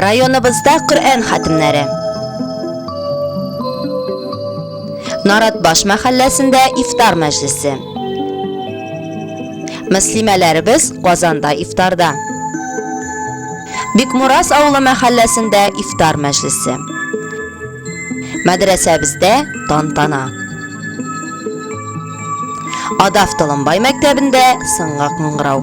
Районыбызда Коръән хатимнәре. Наратбаш мәхәлләсендә ифтар мәҗлесе. Мөслимәләребез Казанда ифтарда. Бикмурас авылы мәхәлләсендә ифтар мәҗлесе. Мәдрәсәбездә тантана. Адав Толымбай мәктәбендә сыңгак мыңгырау.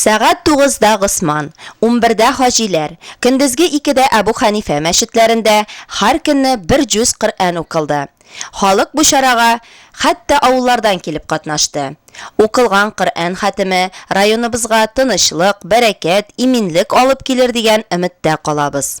Сәгать тугызда Госман, унбердә Хаҗиләр, көндезге икедә Әбү Хәнифә мәчетләрендә һәр көнне бер җүз Коръән укылды. Халык бу чарага хәтта авыллардан килеп катнашты. Укылган Коръән хәтеме районыбызга тынычлык, бәрәкәт, иминлек алып килер дигән өметтә калабыз.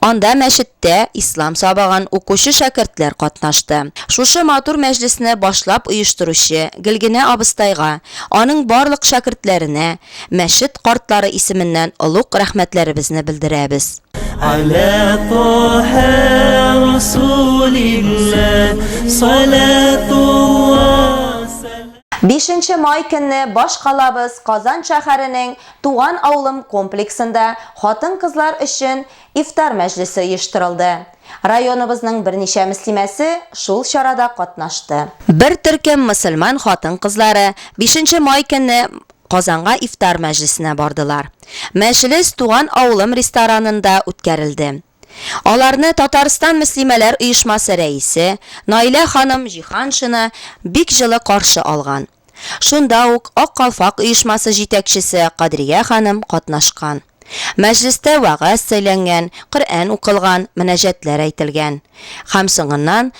Анда мәчеттә ислам сабаган укучы шәкертләр катнашты. Шушы матур мәҗлесне башлап оештыручы Гөлгенә абыстайга, аның барлык шәкертләренә мәчет картлары исеменнән олуг рәхмәтләребезне белдерәбез. Аля Тоһә Расулилләһ салатулла сәлам. Бишенче май көнне башкалабыз Казан шәһәренең Туган авылым комплексында хатын-кызлар өчен ифтар мәҗлесе оештырылды. Районыбызның берничә мөслимәсе шул чарада катнашты. Бер төркем мөселман хатын-кызлары бишенче май көнне Казанга ифтар мәҗлесенә бардылар. Мәҗлес Туган авылым ресторанында үткәрелде. Аларны Татарстан мөслимәләр оешмасы рәисе Наилә ханым Җиһаншина бик җылы каршы алган. Шунда ук Ак калфак оешмасы җитәкчесе Кадрия ханым катнашкан. Мәҗлестә вәгазь сөйләнгән, Коръән укылган, мөнәҗәтләр әйтелгән. Һәм соңыннан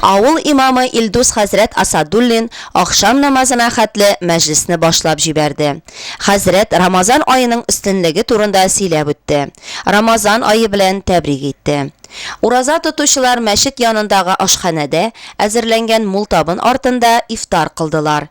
Авыл имамы Илдус хәзрәт Асадуллин ахшам намазына хәтле мәҗлесне башлап җибәрде. Хәзрәт Рамазан аеның өстенлеге турында сөйләп үтте. Рамазан ае белән тәбрик итте. Ураза тотучылар мәчет янындагы ашханәдә әзерләнгән мул табын артында ифтар кылдылар.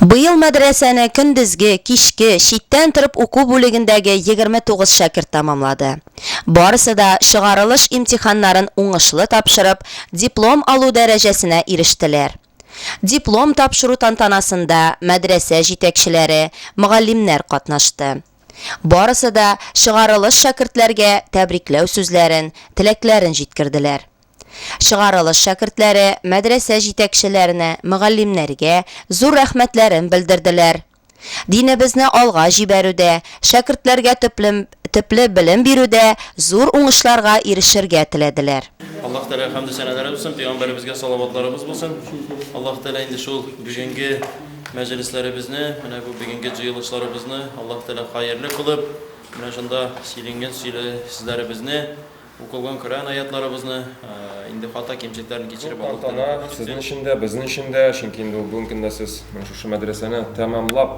Быел мәдрәсәне көндезге, кичке, читтән торып уку бүлегендәге егерме тугыз шәкерт тәмамлады. Барысы да чыгарылыш имтиханнарын уңышлы тапшырып, диплом алу дәрәҗәсенә ирештеләр. Диплом тапшыру тантанасында мәдрәсә җитәкчеләре, мөгаллимнәр катнашты. Барысы да чыгарылыш шәкертләргә тәбрикләү сүзләрен, теләкләрен җиткерделәр. Чыгарылыш шәкертләре мәдрәсә җитәкчеләренә, мөгаллимнәргә зур рәхмәтләрен белдерделәр. Динебезне алга җибәрүдә, шәкертләргә төплем төпле белем бирүдә зур уңышларга ирешергә теләделәр. Аллаһ Тәгаләгә хәмде сәнәләре булсын, пәйгамбәребезгә салаватларыбыз булсын. Аллаһ Тәгалә инде шул бүгенге мәҗлесләребезне, менә бу бүгенге җыелышларыбызны Аллаһ Тәгалә хаерле кылып, менә шунда сөйлингән сөйле сүзләребезне Укылган Коръән аятьларыбызны, инде хата кимчелекләрен кичереп Зур тантана сезнең өчен дә, безнең өчен дә, чөнки инде ул бүгенге көндә сез менә шушы мәдрәсәне тәмамлап,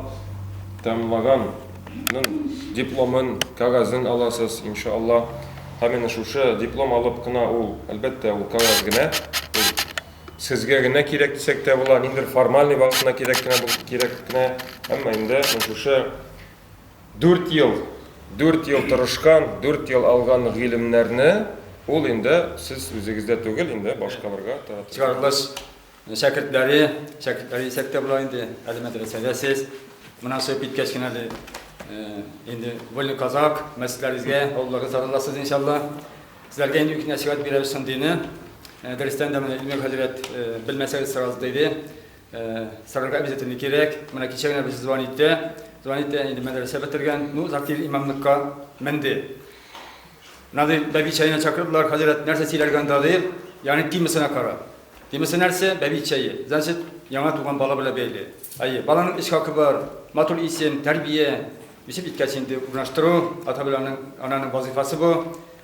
тәмамлаганның дипломын, кәгазен аласыз, инша Аллаһ. Һәм менә шушы диплом алып кына ул, әлбәттә, ул кәгазь генә, ул сезгә генә кирәк дисәк тә була, ниндидер формальный вакытына кирәк кенә, кирәк кенә, әмма инде менә шушы Дүрт ел, дүрт ел тырышкан, дүрт ел алган гыйлемнәрне ул инде сез үзегездә түгел, инде башкаларга таратырга. Чыгарылыш шәкертләре, шәкертләре дисәк тә була инде, әле мәдрәсәдә сез. Моннан чыгып киткәч кенә әле инде Вольный Казак, мәчетләрегезгә, авылларга тараласыз, иншалла. Сезләргә инде үтенәчрәк бирәбез шундыйны. Дөрестән дә, менә Илмир хәзрәт, белмәсәгез, сорарбыз, диде. Сарырга обязательно кирәк. Менә кичә генә без звонит итә. Звонит итә, инде мәдрәсә бетергән. Ну, Закир имамлыкка менде. Надо бәби чәенә чакырдылар, хәзрәт, нәрсә сөйләргә анда дип, ягъни темасына кара. Темасы нәрсә? Бәби чәе. Значит, яңа туган бала белән бәйле. Әйе, баланың эш хакы бар, матур исем, тәрбия. Үсеп иткәч инде урнаштыру, ата белән аның ананың вазифасы бу.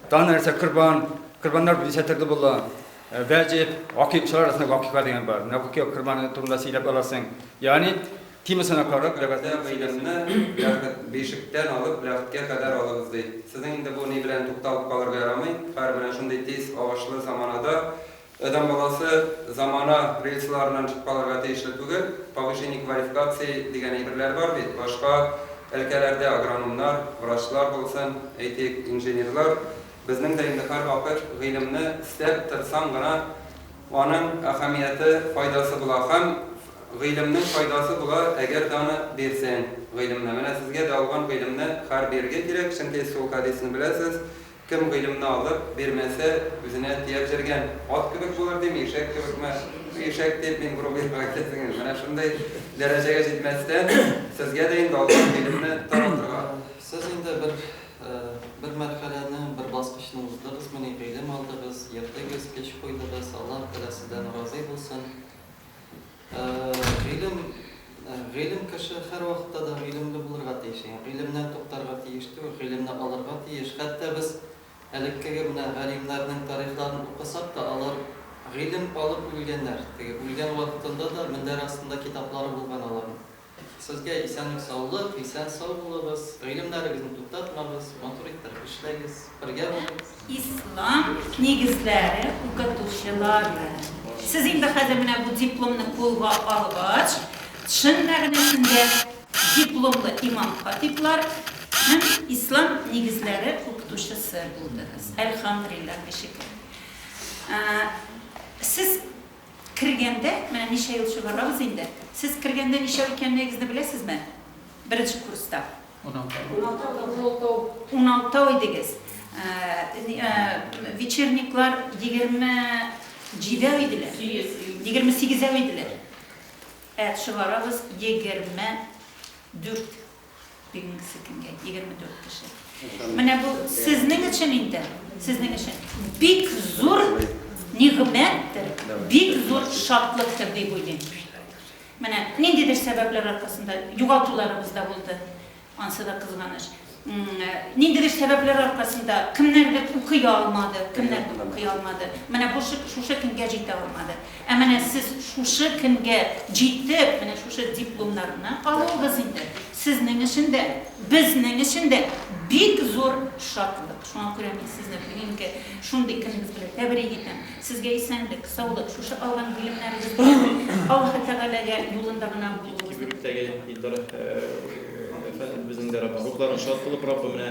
Тагын нәрсә? Корбан. Корбаннар дисәтерле була. Гаҗәп, гакыйкчылар арасында гакыйка дигән бар. Менә бу кияү кырманы турында сөйләп аласың. Ягъни, темасына карап, ләгатьтә бәйләнмә, ләгът, бишектән алып ләгъткә кадәр алыгыз, ди. Сезнең инде бу ни белән тукталып калырга ярамый, хәер, менә шундый тиз агышлы заманада адәм баласы замана рельсларыннан чыгып калырга тиешле түгел. Повышение квалификации дигән әйберләр бар бит. Башка өлкәләрдә агрономнар, врачлар булсын, әйтик, инженерлар Безнең дә инде һәрвакыт гыйлемне эстәп, тырсаң гына аның әһәмияте, файдасы була. Һәм гыйлемнең файдасы була, әгәр даны бирсәң гыйлемне. Менә сезгә дә алган гыйлемне хәр бирергә кирәк, чөнки сул хәдисне беләсез, Кем гыйлемне алып, бирмәсә, үзенә тияп җөргән ат кебек булыр, дим, ишәк кебекме? Ишәк дип мин грубыйрак әйтәсем килми. Менә шундый дәрәҗәгә җитмәстән, сезгә дә инде алган гыйлемне таратырга. Сез инде бер Бер мәрхәләне, бер баскычны уздыгызмыни, гыйлем алдыгыз, йөрдегез, эш куйдыгыз, Аллаһ Тәгалә сездән разый булсын. Гыйлем, гыйлем кеше һәрвакытта да гыйлемле булырга тиеш. Ягъни гыйлемнән туктарга тиеш түгел, гыйлемне алырга тиеш. Хәтта без элеккеге менә галимнәрнең тарихларын укысак та, алар гыйлем алып үлгәннәр. Теге үлгән вакытында да мендәр астында китаплары булган аларның. Сезгә исәнлек саулык, исән сау булыгыз, гыйлемнәрегезне туктатмагыз, матур иттереп эшләгез, бергә булыйк. Ислам нигезләре укытучылары, сез инде хәзер менә бу дипломны кулга алгач, чын мәгънәсендә дипломлы имам-хатиблар һәм ислам нигезләре укытучысы булдыгыз. Әлхәмдрилләһ, шөкер. Сез. Кергәндә, менә ничә ел чыгарабыз инде, сез кергәндә ничәү икәнлегегезне беләсезме? Беренче курста. Уналтау. Уналтау идегез. Вечерниклар егерме җидәү иделәр. Сигез. Егерме сигезәү иделәр. Ә чыгарабыз егерме дүрт. Бирмик секингә, 24 кеше. Менә бу сезнең өчен инде, сезнең өчен бик зур нигъмәттер, бик зур шатлыктыр дип уйлыйм. Менә ниндидер сәбәпләр аркасында югалтуларыбыз да булды. Ансы да кызганыч. Ниндидер сәбәпләр аркасында кемнәрдер укый алмады, кемнәрдер укый алмады. Менә бу шушы көнгә җитә алмады. Ә менә сез шушы көнгә җитеп, менә шушы дипломнарны алуыгыз инде сезнең өчен дә, безнең өчен дә бик зур шатлык. Шуңа күрә мин сезне бүгенге шундый көнегез белән тәбрик итәм. Сезгә исәнлек, саулык, шушы алган белемнәрегез белән Аллаһы Тәгаләгә юлында гына булуыгызны телим. Кибеттәге Илдар әфәндебезнең дә рухлары шат булып, Раббы менә.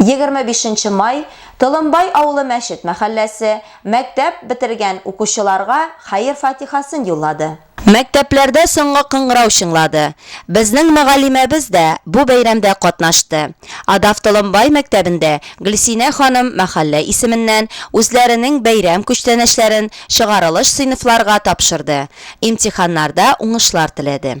Егерме бишенче май, Толымбай авылы мәчет мәхәлләсе, мәктәп бетергән укучыларга хәер-фатихасын юллады. Мәктәпләрдә соңгы кыңгырау чыңлады. Безнең мөгаллимәбез дә бу бәйрәмдә катнашты. Адав Толымбай мәктәбендә Гөлсинә ханым мәхәллә исеменнән үзләренең бәйрәм күчтәнәчләрен чыгарылыш сыйныфларга тапшырды, имтиханнарда уңышлар теләде.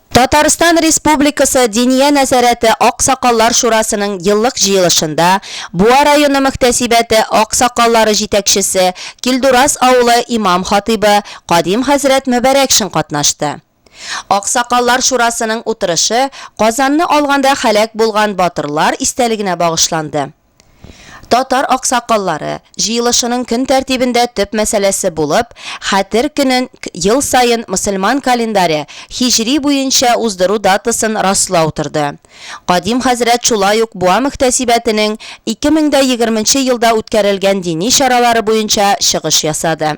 Татарстан Республикасы Диния нәзарәте аксакаллар шурасының еллык җыелышында Буа районы мөхтәсибәте аксакаллары җитәкчесе, Килдураз авылы имам-хатыйбы Кадим хәзрәт Мөбәрәкшин катнашты. Аксакаллар шурасының утырышы Казанны алганда һәлак булган батырлар истәлегенә багышланды. Татар аксакаллары җыелышының көн тәртибендә төп мәсьәләсе булып, Хәтер көнен ел саен мөселман календаре һиҗри буенча уздыру датасын раслау торды. Кадим хәзрәт шулай ук Буа мөхтәсибәтенең 2020 елда үткәрелгән дини чаралары буенча чыгыш ясады.